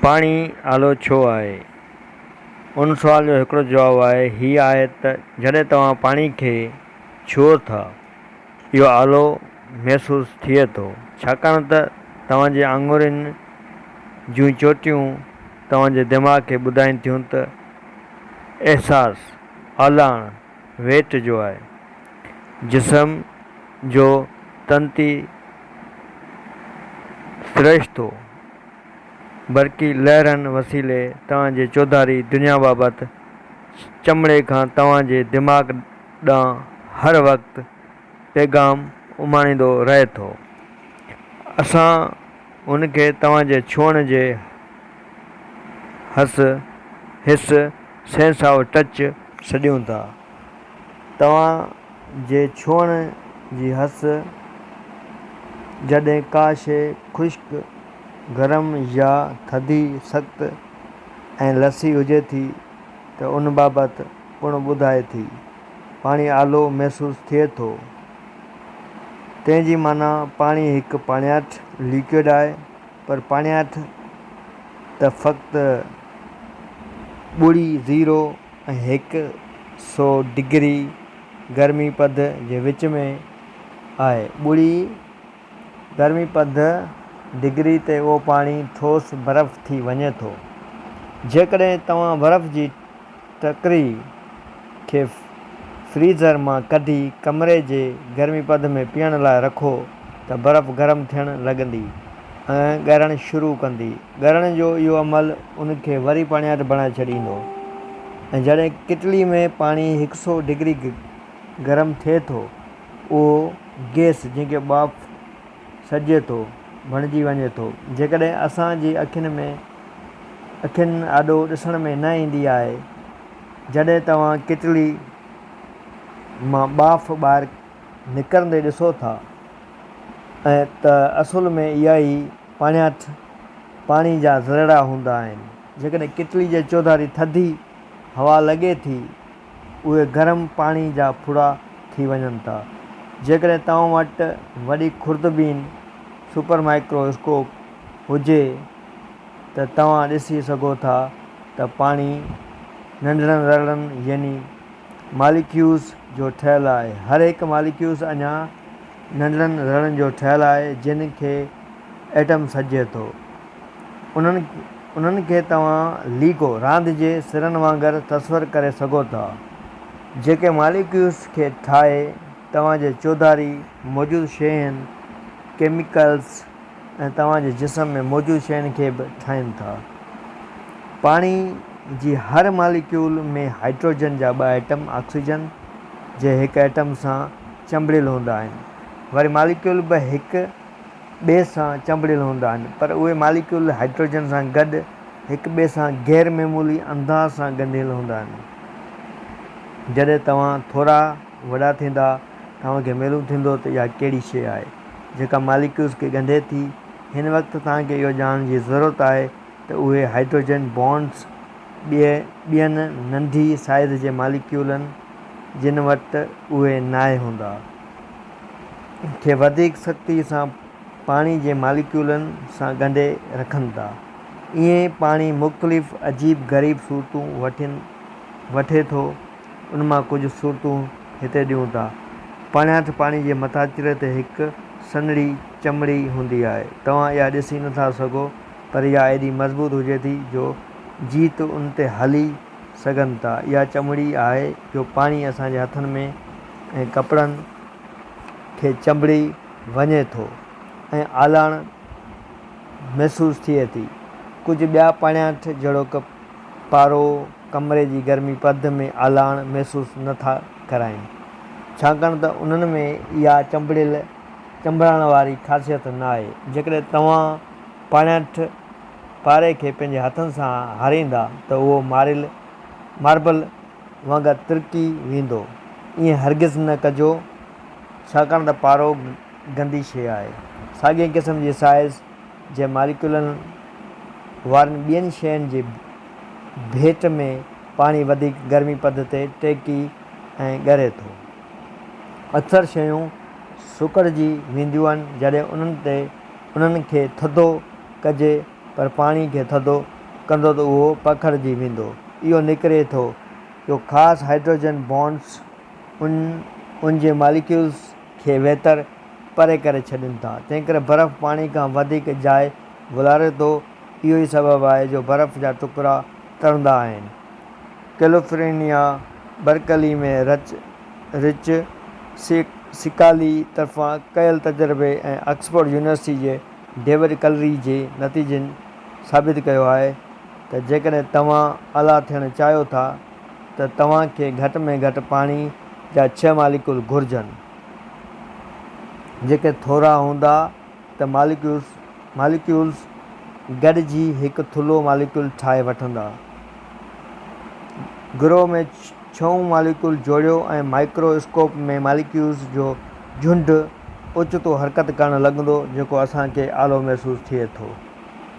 پاڻي آلو ڇو آهي؟ ان سوال جو هڪڙو جواب آهي هي آهي ته جڏهن توهان پاڻي کي ڇهو ٿا اهو آلو محسوس ٿئي ٿو ڇاڪاڻ ته توهان جي آڱرين جون چوٽيون توهان جي دماغ کي ٻڌائين ٿيون ته احساس، آلاڻ، ويٽ جو آهي. جسم جو تنتي سرشتو، برقي لهرن وسيلي توهان جي چوڌاري دنيا بابت چمڙي کان توهان جي دماغ ڏانهن هر وقت پيغام اماڻيندو رهي ٿو. اسان هن کي توهان جي ڇهڻ جي حس، Hiss، Sense of Touch، سڏيون ٿا. توهان جي ڇهڻ جي حس جڏهن ڪا شيء خشڪ، گرم يا ٿڌي، سخت ۽ لسي هجي ٿي ته ان بابت پڻ ٻڌائي ٿي. پاڻي آلو محسوس ٿئي ٿو. تنهن جي معنيٰ پاڻي هڪ پاڻياٺ، Liquid، آهي، پر پاڻياٺ ته فقط ٻوڙي، Zero، ۽ هڪ سئو ڊگري گرمي پد جي وچ ۾ آهي. ٻوڙي. گرمي پد ڊگري تي اهو پاڻي ٺوس برف ٿي وڃي ٿو. جيڪڏهن توهان برف جي ٽڪري کي فريزر مان ڪڍي ڪمري جي گرمي پد ۾ پيئڻ لاء رکو ته برف گرم ٿيڻ لڳندي ۽ ڳرڻ شروع ڪندي. ڳرڻ جو اهو عمل ان کي وري پاڻياٺ بڻائي ڇڏيندو ۽ جڏهن ڪٽلي ۾ پاڻي هڪ سئو ڊگري گرم ٿئي ٿو اهو گئس جنهن کي ٻاڦ سڏجي ٿو، بڻجي وڃي ٿو. جيڪڏهن اسان جي اکين ۾ اکين آڏو ڏسڻ ۾ نه ايندي آهي. جڏهن توهان ڪيٽلي مان ٻاڦ ٻاهر نڪرندي ڏسو ٿا ته اصل ۾ اها ئي پاڻياٺ پاڻي جا ذرڙا هوندا آهن. جيڪڏهن ڪيٽلي جي چوڌاري ٿڌي هوا لڳي ٿي. اهي گرم پاڻي جا ڦڙا ٿي وڃن ٿا. جيڪڏهن توهان وٽ وڏي خوردبين، سپر مائڪرو اسڪوپ، هجي ته توهان ڏسي سگهو ٿا ته پاڻي ننڍڙن ذرڙن يعني ماليڪيوز جو ٺهيل آهي. هر هڪ ماليڪيوز اڃا ننڍڙن ذرڙن جو ٺهيل آهي جن کي ايٽم سڏجي ٿو. انهن کي توهان ليگو، راند جي سرن وانگر تصور ڪري سگهو ٿا، جيڪي ماليڪيولز کي ٺاهي توهان جي چوڌاري موجود شين، ڪيميڪلز ۽ توهان جي جسم ۾ موجود شين کي به ٺاهين ٿا. پاڻي جي هر ماليڪيول ۾ هائڊروجن جا ٻه ايٽم آڪسيجن جي هڪ ايٽم سان چنبڙيل هوندا آهن. وري ماليڪيول به هڪ ٻئي سان چنبڙيل هوندا آهن پر اهي ماليڪيول هائڊروجن سان گڏ هڪ ٻئي سان غير معمولي انداز سان ڳنڍيل هوندا آهن. جڏهن توهان ٿورا وڏا ٿيندا توهان کي معلوم ٿيندو ته اها ڪهڙي شيء آهي جيڪا ماليڪيولز کي ڳنڍي ٿي. هن وقت توهان کي اهو ڄاڻڻ جي ضرورت آهي ته اهي هائڊروجن بانڊز ٻين ننڍي سائيز جي ماليڪيولن جن وٽ اهي ناهي هوندا. کي وڌيڪ سختي سان پاڻي جي ماليڪيولن سان ڳنڍي رکن ٿا. ائين پاڻي مختلف عجيب غريب صورتون وٺي ٿو، ان مان ڪجهه صورتون هتي ڏيون ٿا. پاڻياٺ پاڻي جي مٿاڇري تي هڪ سنهڙي چمڙي هوندي آهي، توهان اها ڏسي نٿا سگهو پر اها ايڏي مضبوط هجي ٿي جو جيت ان تي هلي سگهن ٿا. اها چمڙي آهي جو پاڻي اسان جي هٿن ۾ ۽ ڪپڙن کي چنبڙي وڃي ٿو ۽ آلاڻ محسوس ٿئي ٿي. ڪجهه ٻيا پاڻياٺ جهڙوڪ پارو ڪمري جي گرمي پرده ۾ آلاڻ محسوس نه ٿا ڪرائين ڇاڪاڻ ته انهن ۾ اها چنبڙيل چنبڙائڻ واري خاصيت ناهي. جيڪڏهن توهان پاڻياٺ پاري کي پنهنجي هٿن سان هاريندا ته اهو ماريل ماربل وانگر ترڪي ويندو. ائين هرگز نه ڪجو ڇاڪاڻ ته پارو گندي شيء آهي. ساڳئي قسم جي سائيز جي ماليڪيولن وارين ٻين شين جي ڀيٽ ۾ پاڻي وڌيڪ گرمي پد تي ٽهڪي ۽ ڳري ٿو. اڪثر شيون سڪڙجي وينديون آهن جڏهن انهن تي انهن کي ٿڌو ڪجي پر پاڻي کي ٿڌو ڪندو ته اهو پکڙجي ويندو. اهو نڪري ٿو جو خاص هائڊروجن بانڊز ان جي ماليڪيولز کي ويتر پري ڪري ڇڏين ٿا. تنهنڪري برف پاڻي کان وڌيڪ جاء ولاري ٿو. اهو ئي سبب آهي جو برف جا ٽڪرا ترندا آهن. ڪيلفرنيا برڪلي ۾ رچ رچ سڪالي طرفان ڪيل تجربي ۽ آڪسفورڊ يونيورسٽي جي ڊيوڊ ڪلري جي نتيجن ثابت ڪيو آهي ته جيڪڏهن توهان الا ٿيڻ چاهيو ٿا ته توهان کي گهٽ ۾ گهٽ پاڻي جا ڇهه ماليڪول گهرجن جيڪي ٿورا هوندا ته ماليڪيولز گڏجي هڪ ٿلهو ماليڪول ٺاهي وٺندا گروهه ۾ ڇهون ماليڪيول جوڙيو ۽ مائڪرو اسڪوپ ۾ ماليڪيولز جو جهنڊ اوچتو حرڪت ڪرڻ لڳندو جيڪو اسان کي آلو محسوس ٿئي ٿو.